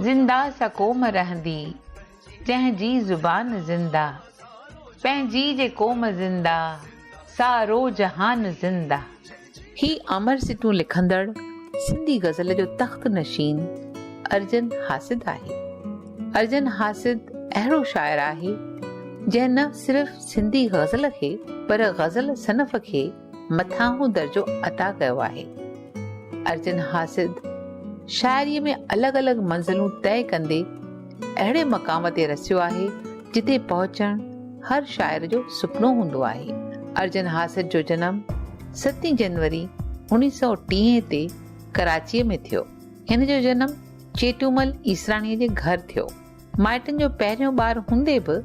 زنده سا قوم رهندي، جنهن جي زبان زنده، پنهنجي جي قوم زنده، سارو جهان زنده. هي امر سٽون لکندڙ سنڌي غزل جو تخت نشين ارجن حاسد آهي. ارجن حاسد اهڙو شاعر آهي جنهن نه صرف سنڌي غزل کي پر غزل صنف کي مٿانهون درجو عطا ڪيو آهي. ارجن حاسد شاعريء ۾ الڳ الڳ منزلون طئي ڪندي اهڙي مقام تي رسيو آهي، جتي پهچڻ هر شاعر جو سپنو هوندو آهي. ارجن هاسيت جو جنم ستين جنوري اوڻيهه سؤ ٽيهه تي ڪراچيء ۾ ٿيو. هن جو جنم چيٽومل ايسراڻيء جي گهر ٿيو. مائٽن جو پهريون ٻار هوندي به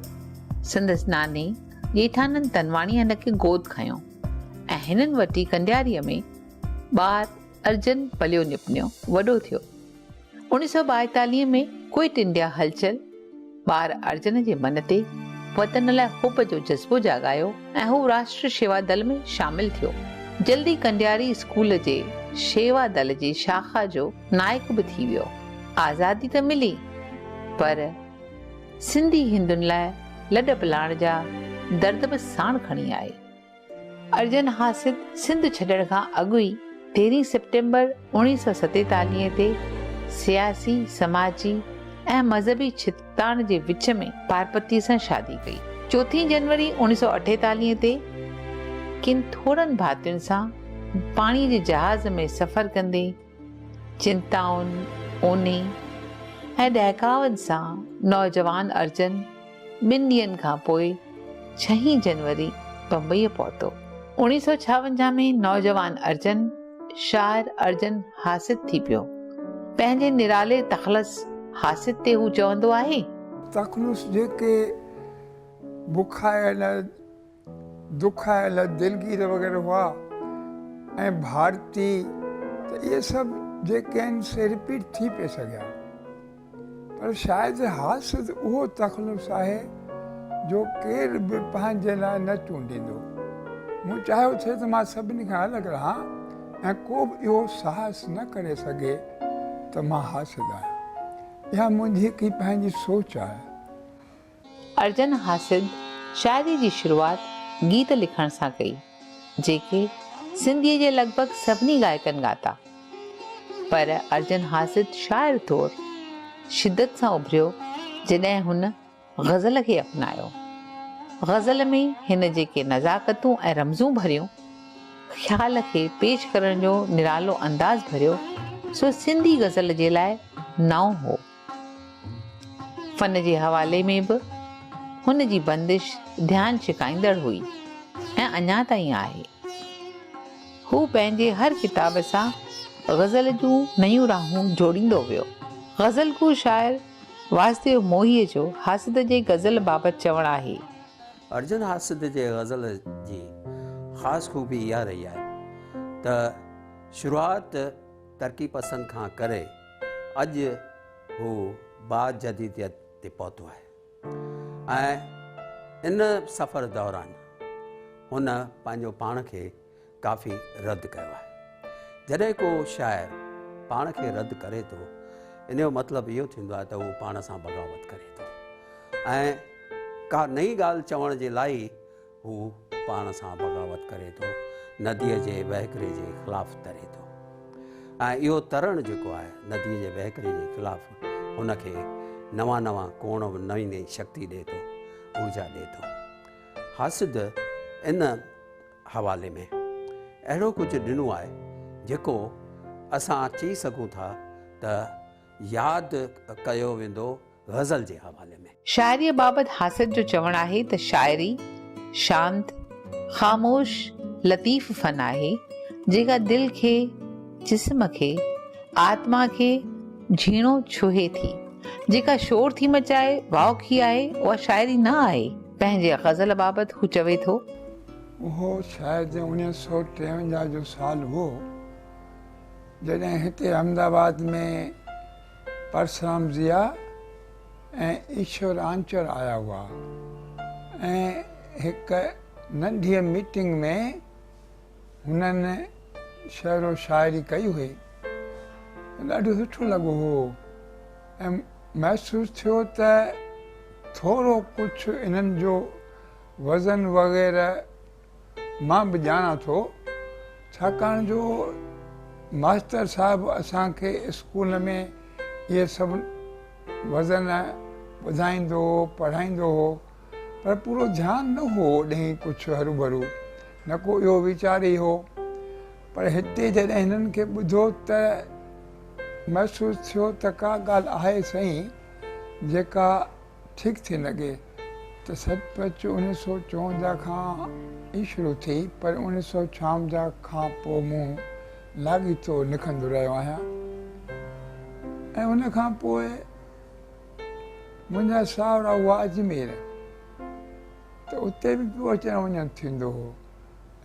سندس ناني ڄيٺانند تنواڻيء هن کي گود کنيو ۽ هنن وٽ ئي ڪنڊياريء ۾ ٻار ارجن پليو نپنيو وڏو ٿيو. انيس سؤ ٻائيتاليهه ۾ ڪوئٽ انڊيا هلچل ٻار ارجن جي من تي وطن لاء حب جو جذبو جاڳايو ۽ هو راشٽر شيوا دل ۾ شامل ٿيو. جلد ئي ڪنڊياري اسڪول جي شيوا دل جي شاخا جو نائڪ به ٿي ويو. آزادي ته ملي پر سنڌي هندن لاء لڏپلاڻ جا درد به ساڻ کڻي آئي. ارجن حاسد سنڌ ڇڏڻ کان اڳ ئي تيرهين سيپٽمبر اوڻيهه سؤ ستيتاليهه تي سياسي، سماجي ۽ مذهبي ڇتتاڻ جي وچ ۾ پارپتيء سان شادي ڪئي. چوٿين جنوري اوڻيهه سؤ اٺيتاليهه تي ڪن ٿورن ڀاتين سان پاڻيء جي جهاز ۾ سفر ڪندي، چنتائن، اونهي ۽ ڏهڪاون سان نوجوان ارجن ٻن ڏينهن کان پوء ڇهين جنوري بمبئيء پهتو. اوڻيهه سؤ ڇاونجاهه ۾ نوجوان ارجن شاعر ارجن حاسد ٿي پيو. پنهنجي نرالي تخلص حاسد تي هو چوندو آهي. تخلص جيڪي بکايل دکايل، دلگير وغيره هئا ۽ ڀارتي ته اهي سڀ جيڪي آهن سي رپيٽ ٿي پئي سگهيا پر شايد حاسد اهو تخلص آهي جو ڪير به پنهنجي لاء نه چونڊيندو. مون چاهيو ٿي ته مان سڀني کان الڳ رهان ۽ ڪو به اهو ساهس نه ڪري سگهي ته مان حاسد آهيان. اها منهنجي هڪ ئي پنهنجي سوچ آهي. ارجن حاسد شاعري جي شروعات گيت لکڻ سان ڪئي، جيڪي سنڌيء جي لڳ ڀڳ سڀني ڳائڪن ڳاتا. پر ارجن حاسد شاعر طور شدت سان اڀريو جڏهن هن غزل کي اپنايو. غزل ۾ هن جيڪي نزاڪتون ۽ رمزون ڀريون، خيال کي پيش ڪرڻ جو نرالو انداز ڀريو، سو سنڌي غزل جي لاء نئون هو. فن جي حوالي ۾ به هن جي بندش ڌيان ڇڪائيندڙ هئي ۽ اڃا تائين آهي. هو پنهنجي هر ڪتاب سان غزل جون نيون راهون جوڙيندو ويو. غزل گو شاعر واسديو موهيء جو حاسد جي غزل بابت چوڻ آهي. ارجن حاسد جي غزل جي خاص خوبي اها رهي آهي ته شروعات ترقي پسند کان ڪري، اڄ هو باجديديت تي پهتو آهي ۽ ان سفر دوران هن پنهنجو پاڻ کي ڪافي رد ڪيو آهي جڏهن ڪو شاعر پاڻ کي رد ڪري ٿو ان جو مطلب اهو ٿيندو آهي ته هو پاڻ سان بغاوت ڪري ٿو ۽ ڪا نئين ڳالهه چوڻ جي لاء هو پاڻ سان بغاوت ڪري ٿو، نديء جي وهڪري جي خلاف تري ٿو ۽ اهو ترڻ جيڪو آهي نديء جي وهڪري جي خلاف هن کي نوان نوان ڪوڻ، نئين نئين شڪتي ڏئي ٿو، اورجا ڏئي ٿو. هاسد ان حوالي ۾ اهڙو ڪجهه ڏنو آهي جيڪو اسان چئي سگهون ٿا ته ياد ڪيو ويندو. غزل جي حوالي ۾. شاعريء بابت حاسد جو چوڻ آهي ته شاعري شانت، خاموش، لطيف فن آهي، جيڪا دل کي، جسم کي، آتما کي جهيڻو ڇهي ٿي. جيڪا شور ٿي مچائي، واء ڪي آهي، اها شاعري نه آهي. پنهنجي غزل بابت هو چوي ٿو. اهو شايد اڻيهه سؤ ٽيونجاهه جو سال هئو، جڏهن هتي احمد آباد ۾ پرسرام ضيا ۽ ايشور آنچر آيا هئا ۽ هڪ ننڍيء ميٽنگ ۾ هنن شعر و شاعري ڪئي هئي. ڏاڍو سٺو لڳو هو ۽ محسوس ٿيو ته ٿورو ڪجهه انهن جو وزن وغيره مان به ڄاڻان ٿو ڇاڪاڻ جو ماستر صاحب اسان کي اسڪول ۾ اهي سڀ وزن ٻڌائيندو هو پڙهائيندو هو پر پورو ڌيان نه هو ڏهين ڪڇ هروڀرو نه ڪو اهو ويچار ئي هو پر هتي جڏهن هنن کي ٻڌو ته محسوس ٿيو ته ڪا ڳالهه آهي سائين جيڪا ٺيڪ ٿي لڳي ته سچ پچ انيس سؤ چونجاهه کان ئي شروع ٿي پر انيس سؤ ڇاونجاهه کان پوء مون لاڳيتو لکندو رهيو آهيان ۽ ان کان پوء منهنجا ساهورا هئا اجمير ته اتي به پيو اچڻ وڃڻ ٿيندو هو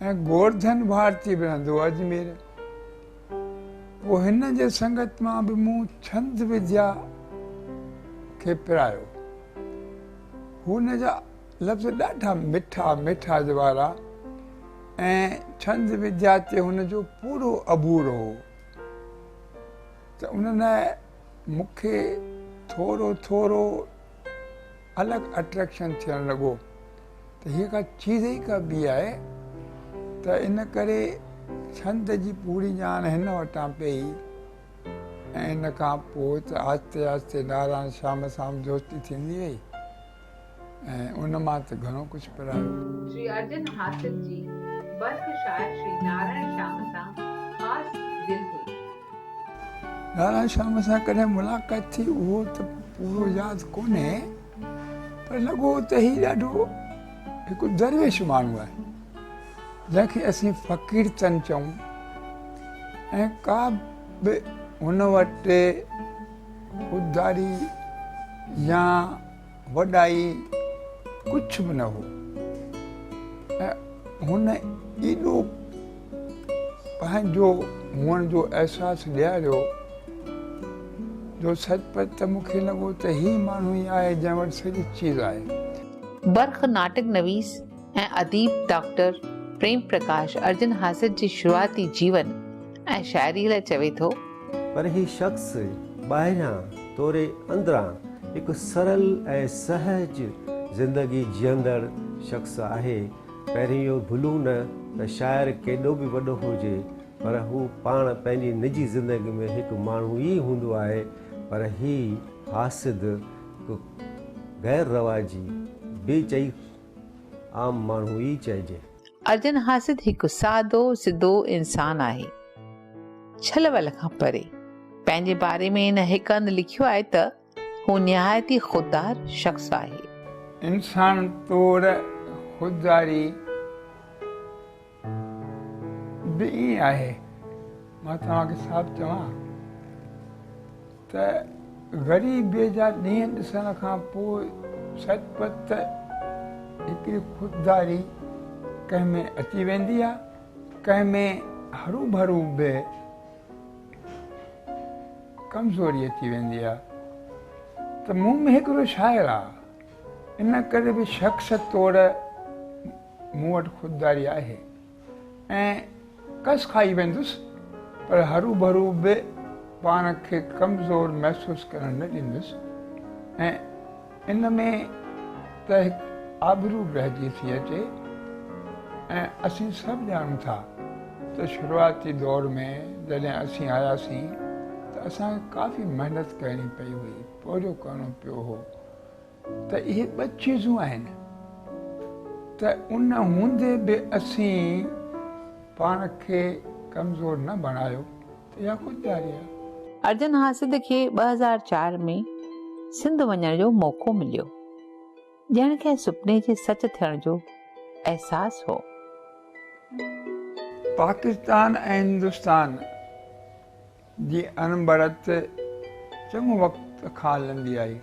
۽ گورڌن ڀارتي به رهندو هو اجمير. پوء هن جي سنگت مان به مون ڇند وديا کي پرايو. هن جا لفظ ڏاڍا مٺا ميٺاج وارا ۽ ڇند وديا تي هن جو پورو عبور هو ته ان لاء مون کي ٿورو ٿورو الڳ اٽريڪشن ٿيڻ لڳو ته هيء ڪا چيز ئي ڪا ٻي آهي ته ان ڪري ڇند جي پوري ڄاڻ هن وٽان پئي ۽ ان کان پوء ته آهستي آهستي نارائڻ شيام سان به دوستي ٿيندي وئي ۽ ان مان ته گهڻو ڪجهه پرايو. شري ارجن حاصل جي برک شاعر شري نارائڻ شيام سان خاص دل هئي. لالان شام سان ڪڏهن ملاقات ٿي اهو ته پورو ياد ڪونهي پر لڳو ته هي ڏاڍو هڪ درويش ماڻهو آهي جنهن کي اسين فقير چن چئون ۽ ڪا به هن وٽ خودداري يا وڏائي ڪجهه به نه هو ۽ هن ايڏو پنهنجو هئڻ جو احساس ڏياريو جو سچ پچ ته مون کي لڳو ته هي ماڻهو ئي آهي جنهن وٽ سڄي چيز آهي. برک ناٽڪ نويس ۽ اديب ڊاڪٽر پريم پرڪاش ارجن حاسد جي شروعاتي جيون ۽ شاعريء لاء چوي ٿو. پر هي شخص ٻاهريان توڙي اندران هڪ سرل ۽ سهج زندگي جيئندڙ شخص آهي. پهرين اهو ڀلون نه ته شاعر ڪيڏو به وڏو هجي پر هو پاڻ پنهنجي نجي زندگي ۾ هڪ ماڻهو ئي هوندو آهي پر هي حاسد هڪ غير رواجي بي چئي عام ماڻهو ئي چئجي. ارجن حاسد هڪ سادو سڌو انسان آهي. ڇل ول کان پري. پنهنجي باري ۾ هن هڪ هنڌ لکيو آهي ته، هو نهايت ئي خوددار شخص آهي. انسان طور خودداري به ائين آهي. مان توهان کي صاف چوان ته غريبيء جا ڏينهن ڏسڻ کان پوء سچ پچ ته هڪڙي خودداري ڪنهن ۾ اچي ويندي آهي، ڪنهن ۾ هروڀرو به ڪمزوري اچي ويندي آهي ته مون ۾ هڪڙو شاعر آهي، ان ڪري به شخص توڙ مون وٽ خودداري آهي ۽ ڪس کائي ويندس پر هروڀرو به پاڻ کي ڪمزور محسوس ڪرڻ نه ڏيندس ۽ ان ۾ ته هڪ آبرو به رهجي ٿي اچي ۽ اسين سڀ ڄاڻون ٿا ته شروعاتي دور ۾ جڏهن اسين آياسين ته اسان کي ڪافي محنت ڪرڻي پئي هئي پورهيو ڪرڻو پيو هو ته اهي ٻه چيزون آهن ته ان هوندي به اسين پاڻ کي ڪمزور نه بڻايو ته اها خودداري آهي. ارجن حاسد کي ٻه هزار چار ۾ سنڌ وڃڻ جو موقعو مليو. ڄڻ ڪنهن سپني جي سچ ٿيڻ جو احساس هو. پاڪستان ۽ هندستان جي اڻبڻت چڱو وقت کان هلندي آئي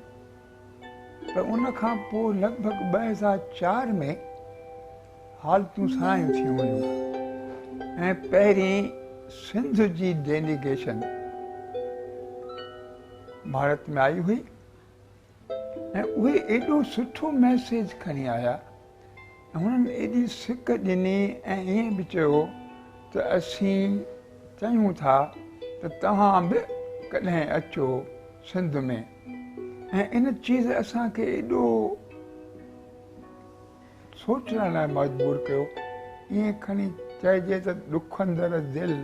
پر ان کان پوء لڳ ڀڳ ٻه هزار چار ۾ حالتون سڻايون ٿيون ويون ۽ پهرين سنڌ جي ڊيليگيشن ڀارت ۾ آئي هئي ۽ اهي ايڏو سٺو ميسيج کڻي آيا ۽ هنن ايڏي سڪ ڏني ۽ ائين به چيو ته اسين چاهيون ٿا ته توهان به ڪڏهن اچو سنڌ ۾ ۽ ان چيز اسان کي ايڏو سوچڻ لاء مجبور ڪيو ائين کڻي چئجي ته ڏکندڙ دل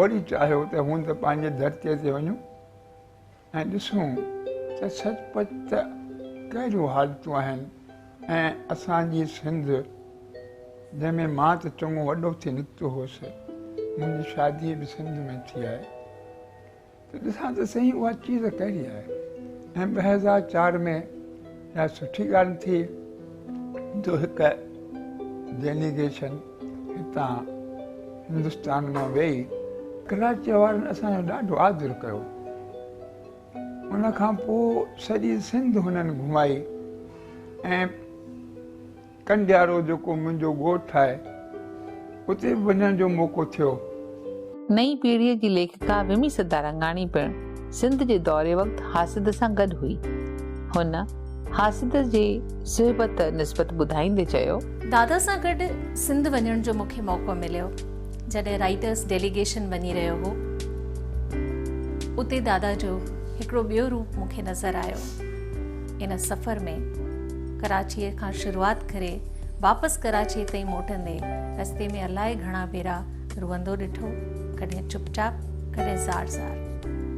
وڙي چاهيو ته هوند پنهنجي ڌرتي تي وڃون ۽ ڏسون ته سچ پچ ته ڪهڙيون حالتون آهن ۽ اسان جي سنڌ جنهن ۾ مان ته چڱو وڏو ٿي نڪتو هوس، منهنجي شادي به سنڌ ۾ ٿي آهي ته ڏسان ته سهي اها چيز ڪهڙي آهي ۽ ٻه هزار چار ۾ اها سٺي ڳالهه ٿي جو هڪ ڊيليگيشن هتان هندستان مان ويئي ڪراچيء وارن اسان جو ڏاڍو آدر ڪيو ان کان پوء سڄي سنڌ هنن گهمائي ۽ ڪنڊيارو جيڪو منهنجو ڳوٺ آهي، اتي به وڃڻ جو موقعو ٿيو. نئين پيڙهيء جي ليکڪا ومي سدارنگاڻي پڻ سنڌ جي دوري وقت حاسد سان گڏ هئي. هن حاسد جي صحبت نسبت ٻڌائيندي چيو. دادا سان گڏ سنڌ وڃڻ جو مون کي موقعو مليو. جڏهن رائيٽرس ڊيليگيشن وڃي رهيو هو، اتي دادا جو هڪڙو ٻيو روپ مون کي نظر آيو. ان سفر ۾ ڪراچيء کان شروعات ڪري واپس ڪراچيء تائين موٽندي رستي ۾ الائي گهڻا ڀيرا روئندو ڏٺو، ڪڏهن چپ چاپ، ڪڏهن زار زار.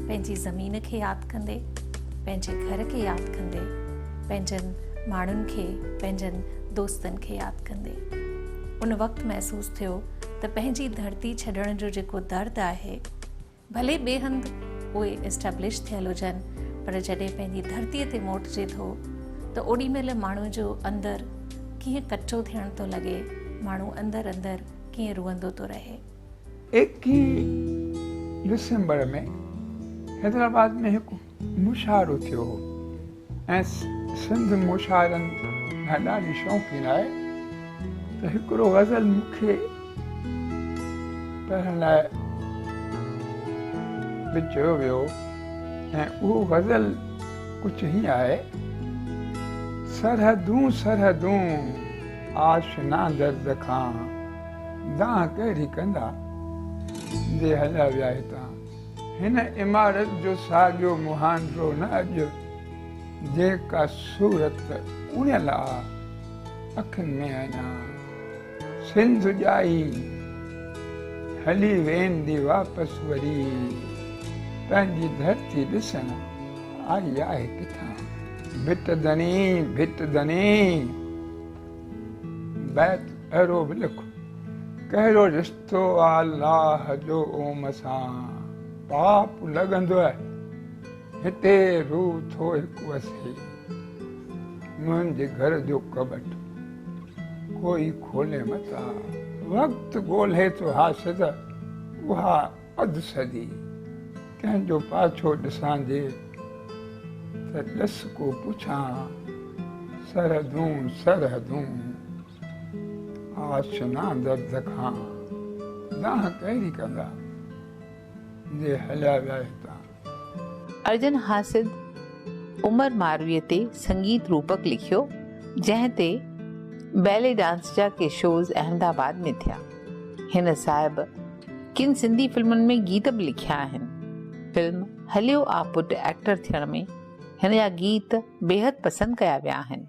پنهنجي زمين کي ياد ڪندي، پنهنجي گهر کي ياد ڪندي، پنهنجن ماڻهن کي، پنهنجن دوستن کي ياد ڪندي. ان وقت محسوس ٿيو ته پنهنجي ڌرتي ڇڏڻ جو جيڪو درد آهي، ڀلي ٻئي هنڌ اهي اسٽيبلش ٿيل هجن پر جڏهن پنهنجي ڌرتي تي موٽجي ٿو ته اوڏي مهل ماڻهو جو اندر ڪيئن ڪچو ٿيڻ ٿو لڳي ماڻهو اندر اندر ڪيئن روئندو ٿو رهي. ايڪيهين ڊسمبر ۾ حيدرآباد ۾ هڪ مشاعرو ٿيو هو ۽ سنڌ مشاعرن کان ڏاڍي شوقين آهي ته هڪڙو غزل مون کي پڙهڻ لاء به چيو ويو ۽ اهو غزل ڪجهه هيئن آهي سرحدون سرحدون آشنا درد کان دانهن ڪهڙي ڪندا جي هليا ويا هتان هن عمارت جو ساڳيو مهانڊو نه اڄ جيڪا صورت اڻيل آ اکين ۾ اڃا سنڌ ڄائي هلي ويندي واپس وري پنهنجي ڌرتي ڏسڻ آئي آهي ڪٿان. ڀت ڌڻي ڀت ڌڻي بيت اهڙو به لک ڪهڙو رشتو. سو الله جو اوم سان پاپ لڳندو آهي هتي روح ٿو هڪ وسي منهنجي گهر جو ڪٻٽ ڪوئي کولي متان وقت ڳولهي ٿو حاسد اها اڌ صدي ڪنهن جو پاڇو ڏسان جي ته ڏس ڪو پڇان سرحدون سرحدون آشنا درد کان دانهن ڪهڙي ڪندا، جي هليا ويا هتان. ارجن حاسد عمر مارويء تي سنگيت روپڪ لکيو، جنهن تي بيلي ڊانس جا ڪي شوز احمد آباد ۾ ٿيا. هن صاحب ڪن سنڌي فلمن ۾ گيت به لکيا آهن. فلم هليو آ پٽ ايڪٽر ٿيڻ ۾ هن جا گيت بيحد پسند ڪيا ويا آهن.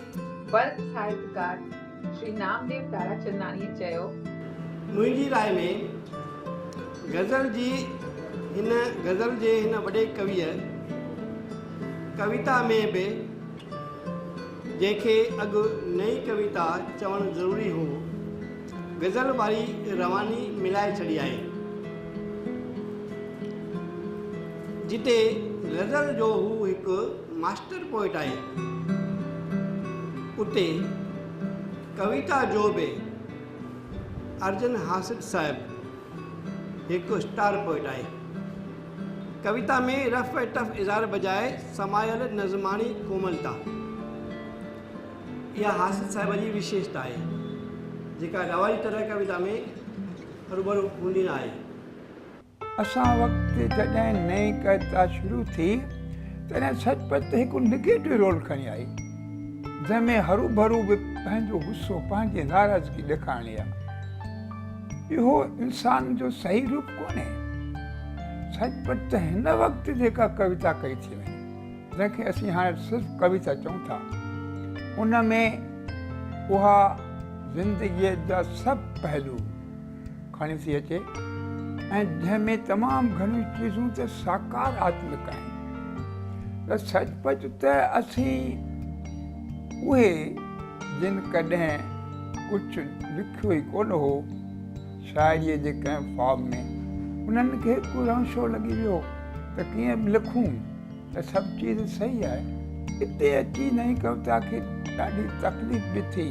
برک ساهتڪار شري نامديو تاراچنداڻيء چيو. منهنجي راء ۾ غزل جي هن غزل جي هن وڏي ڪويء ڪويتا ۾ به جنهن کي اڳ نئين ڪويتا چوڻ ضروري هو، غزل واري رواني ملائي ڇڏيائين. جتي غزل جو هو هڪ. ماسٽر پوئٽ آهي، اتي ڪويتا جو به ارجن حاسد صاحب هڪ اسٽار پوئٽ آهي. ڪويتا ۾ رف ۽ ٽف اظهار بجاء سمايل نظماڻي ڪوملتا اها حاسد صاحب جي وشيشتا آهي، جيڪا رواجي طرح ڪويتا ۾ روبرو هوندي نه آهي. اسان وقت جڏهن نئين ڪائتا شروع ٿي تڏهن سچ پچ ته هڪ نيگيٽو رول کڻي آئي جنهن ۾ هروڀرو به پنهنجو غصو پنهنجي ناراضگي ڏيکارڻي آهي اهو انسان جو صحيح روپ ڪونهي سچ پچ ته هن وقت جيڪا ڪويتا ڪئي ٿي وڃي جنهن کي اسين هاڻي صرف ڪويتا چئون ٿا ان ۾ اها زندگيء جا سڀ پهلو کڻي ٿي اچي ۽ جنهن ۾ تمام گهڻيون چيزون ته ساڪار آتمڪ آهن ته سچ پچ ته اسين اهي جن ڪڏهن ڪجهه لکيو ئي ڪونه هو شاعريء جي ڪنهن فارم ۾ انهن کي ڪو رنشو لڳي ويو ته ڪيئن به لکون ته سڀ چيز صحيح آهي. اتي اچي نئين ڪويتا کي ڏاڍي تڪليف به ٿي،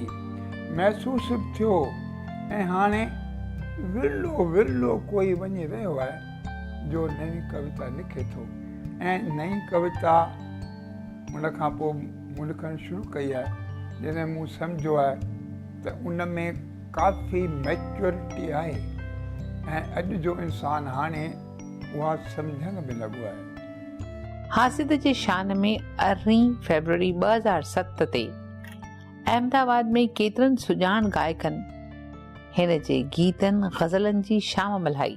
محسوس به ٿيو ۽ هاڻي ورلو ورلو ڪوئي وڃي رهيو آهي جو نئين ڪويتا لکي ٿو ۽ نئين ڪويتا ان کان پوء مون لکڻ شروع ڪئي آهي جڏهن مون سمجهيو آهي ته ان ۾ ڪافي ميچوئرٽي آهي ۽ اڄ جو انسان هاڻي اها سمجهڻ ۾ لڳو آهي. حاسد جي شان ۾ ارڙهين فيبروري ٻه هزار ست تي احمد آباد ۾ ڪيترن سڄاڻ گائڪن هن جي گيتن غزلن جي شام ملهائي.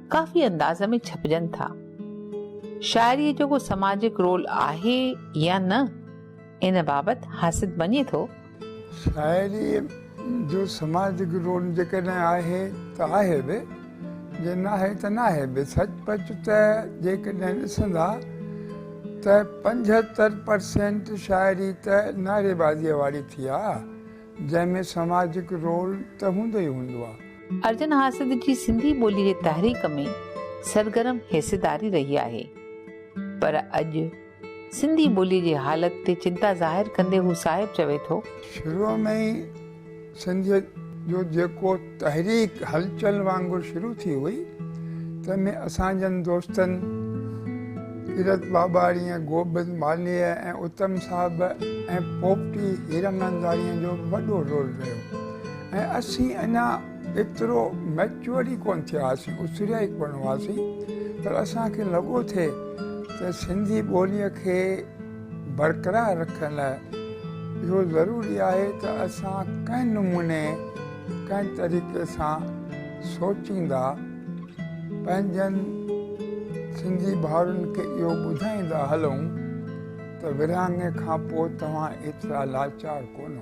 ڪافي انداز ۾ ڇپجن ٿا. شاعريء جو ڪو سماجڪ رول آهي يا نه، ان بابت حاسد مڃي ٿو. شاعريء جو سماجڪ رول جيڪڏهن آهي ته آهي به، جي ناهي ته ناهي به. سچ پچ ته جيڪڏهن ڏسندا ته پنجهتر پرسينٽ شاعري ته نعريبازيء واري ٿي آ، جنهن ۾ سماجڪ رول ته هوندو ئي هوندو آ. ارجن حاسد جي سنڌي ٻولي جي تحريڪ ۾ سرگرم حصيداري رهي آهي پر اڄ سنڌي ٻولي جي حالت تي چنتا ظاهر ڪندي هو صاحب چوي ٿو. شروع ۾ ئي سنڌيت جو جيڪو تحريڪ هلچل وانگر شروع ٿي هئي تنهن ۾ اسان جن دوستن ڪيرت ٻاٻاڻيء، گوبند مالهيء ۽ اتم صاحب ۽ پوپٽي هيراننداڻيء جو به وڏو رول رهيو. ۽ اسين اڃا ايترو ميچوئر ئي ڪونه ٿيا هئاسين، اسريا ئي ڪونه هئاسين، پر اسان کي لڳو ٿي ته سنڌي ٻوليء کي برقرار رکڻ لاء اهو ضروري آهي ته اسان ڪنهن نموني ڪنهن طريقي سان سوچيندا، پنهنجن سنڌي ڀائرن کي اهو ٻڌائيندا هلون ته ورهاڱي کان پوء توهان ايترا لاچار ڪونه.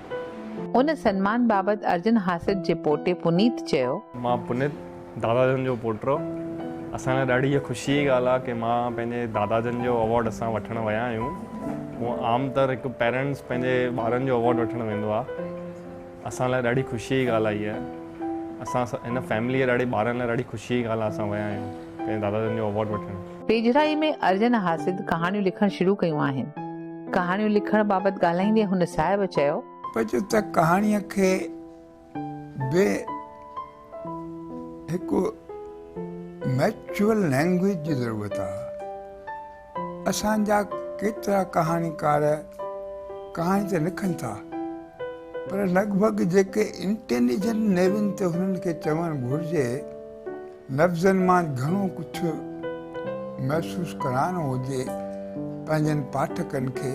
ان سنمان بابت ارجن هاسيت جي پوٽي پنيت چيو. مان پنيت، دادا جن جو پوٽو. اسان لاء ڏاڍي هيء خوشيء جي ڳالهه آهي ڪي مان پنهنجي دادا جن جو اوارڊ اسان وٺڻ ويا آهيون. هونء عام طر هڪ پيرنٽس پنهنجي ٻارن جو اوارڊ وٺڻ ويندو آهي. اسان لاء ڏاڍي خوشيء جي ڳالهه آهي هيء. اسان هن فيمليء ڏاڍي ٻارن لاء ڏاڍي خوشيء جي ڳالهه آهي اسان ويا آهيون پنهنجي دادا جن جو اوارڊ وٺڻ. ويجهڙائي ۾ ارجن حاسد ڪهاڻيون لکڻ شروع ڪيون آهن. ڪهاڻيون لکڻ بابت ڳالهائيندي هن صاحب چيو. پچ ته ڪهاڻيء کي به هڪ ميچوئل لينگويج جي ضرورت آهي. اسان جا ڪيترا ڪهاڻيڪار ڪهاڻي ته لکن ٿا پر لڳ ڀڳ جيڪي انٽيليجنٽ نيون تي هنن کي چوڻ گهرجي لفظن مان گهڻو ڪجهه محسوس ڪرائڻو هجي پنهنجن پاٺڪن کي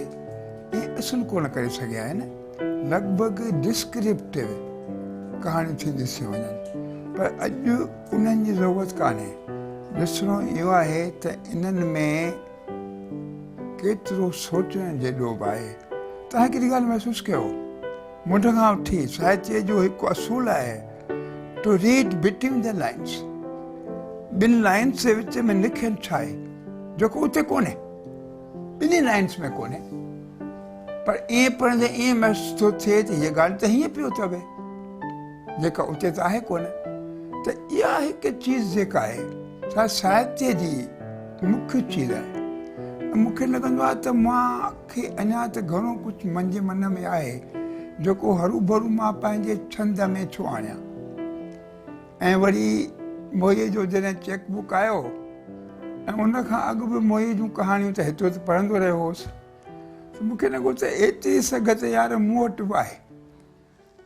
ائين اصل ڪونه ڪري سگهيا آهن لڳ ڀڳ ڊسڪرپٽيو ڪهاڻيون ٿي ڏسيون وڃن پر اڄ انهن جي ضرورت ڪانهي ڏسڻو اهو آهي ته انهن ۾ ڪيترو سوچڻ جيڏو به آهي توهان ڪهڙي ڳالهه محسوس ڪيو منڍ کان وٺي ساهتيه جو هڪ اصول آهي To read between the lines، ٻن لائنز جي وچ ۾ لکيل ڇا آهي جيڪو اتي ڪونهي، ٻنهي لائنز ۾ ڪونهي پر ائين پڙهندي ائين محسوس ٿو ٿئي ته هيء ڳالهه ته هيئن پيو چوي جيڪا اتي ته آهي ڪونه ته اها هڪ چيز جيڪا آهي سا ساهتيه جي مکيه چيز آهي ۽ مون کي لڳندو آهي ته مان کي اڃا ته گهڻو ڪجهه منهنجي من ۾ آهي، جيڪو هروڀرو مان پنهنجي ڇند ۾ ٿو آڻيان. ۽ وري موهيء جو جڏهن چيڪ بوڪ آيو ۽ ان کان اڳ به موهيء جون ڪهاڻيون ته هتي هتي پڙهندو رهيو هوس، ته مون کي لڳو ته ايتري سگهه ته يار مون وٽ به آهي.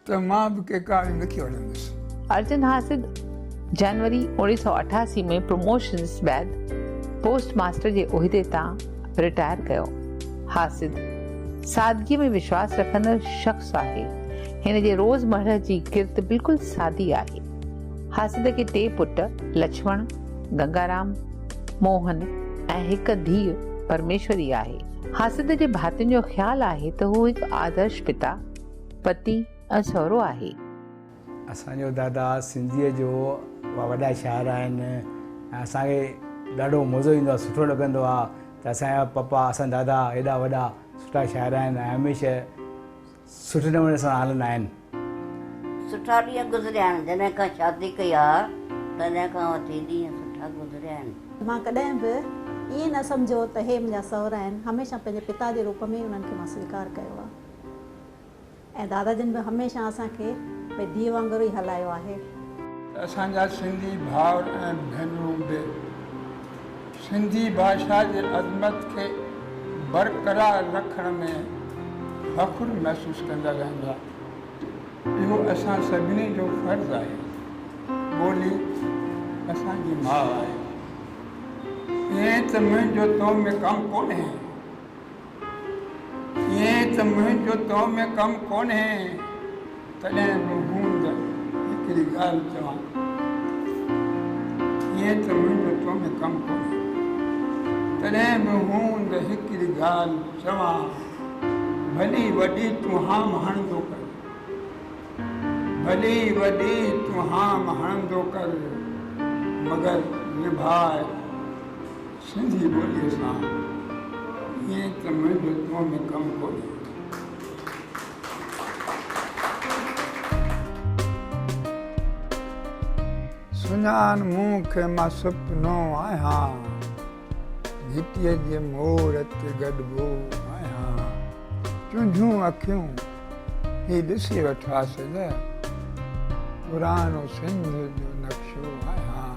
ته مان به ڪي ڪالم لکي وٺندس. ارجن حاسد جنوري اوڻيهه سؤ اٺاسي ۾ پروموشنس بعد پوسٽ ماسٽر جي عهدي تان رٽائر ڪيو. حاسد سادگيء ۾ وشواس رکندڙ شخص آهي. هن جي روز مرهه جي ڪرت بلڪل سادي آهي. حاسد کي ٽي پٽ لڇمڻ، گنگارام، موهن ۽ هڪ ڌيء پرميشوري آهي. حاسد جي ڀاتين جو خيال آهي ته هو هڪ آدرش پتا، پتي ۽ سهرو آهي. اسان جو دادا سنڌيء جو وڏا شاعر آهن ۽ اسان کي ڏاڍو مزو ايندو آهي سٺو لڳندو آهي ته اسان جا پپا اسان جا دادا ايڏا وڏا سٺا شاعر آهن ۽ هميشه سٺي نموني سان هلندا آهن. سٺا ڏينهن گذريا آهن جڏهن کان شادي ڪئي آ تڏهن کان وٺي ڏينهن سٺا گذريا آهن. مان ڪڏهن به ائين نه سمجهيو ته هي منهنجا سئورا آهن هميشه پنهنجي پتا جي روپ ۾ ئي انهن کي مان سويڪار ڪيو آ. ۽ دادا جن به هميشه اسان کي ڀئي ڌيء وانگر ئي هلايو آهي. اسان جا سنڌي ڀائر ۽ ڀينرون به سنڌي ڀاشا جي عظمت کي برقرار رکڻ ۾ فخر محسوس ڪندا رهندا. اهو اسان سڀني جو فرض آهي. ٻولي اسان جي ماء آهي. ائين ته منهنجو تو ۾ ڪم ڪونهي. ائين ته منهنجو تو ۾ ڪم ڪونهي، تڏهن به مون ته هڪڙي ڳالهه چوان ٿو. ائين ته منهنجو تو ۾ ڪم ڪونهي، تڏهن به مون ته هڪڙي ڳالهه چوان، ڀلي وڏي تون هام هڻندو ڪر، ڀلي وڏي تون هام هڻندو ڪر، مگر نڀاء سنڌي ٻوليء سان ائين ته منهنجو تو ۾ ڪم ڪونهي. سڃاڻ مون کي مان سپنو آهيان. گهٽيء جي مور تي گڏبو آهيان. تنهنجون اکيون هي ڏسي وٺاس نه. پراڻو سنڌ جو نقشو آهيان.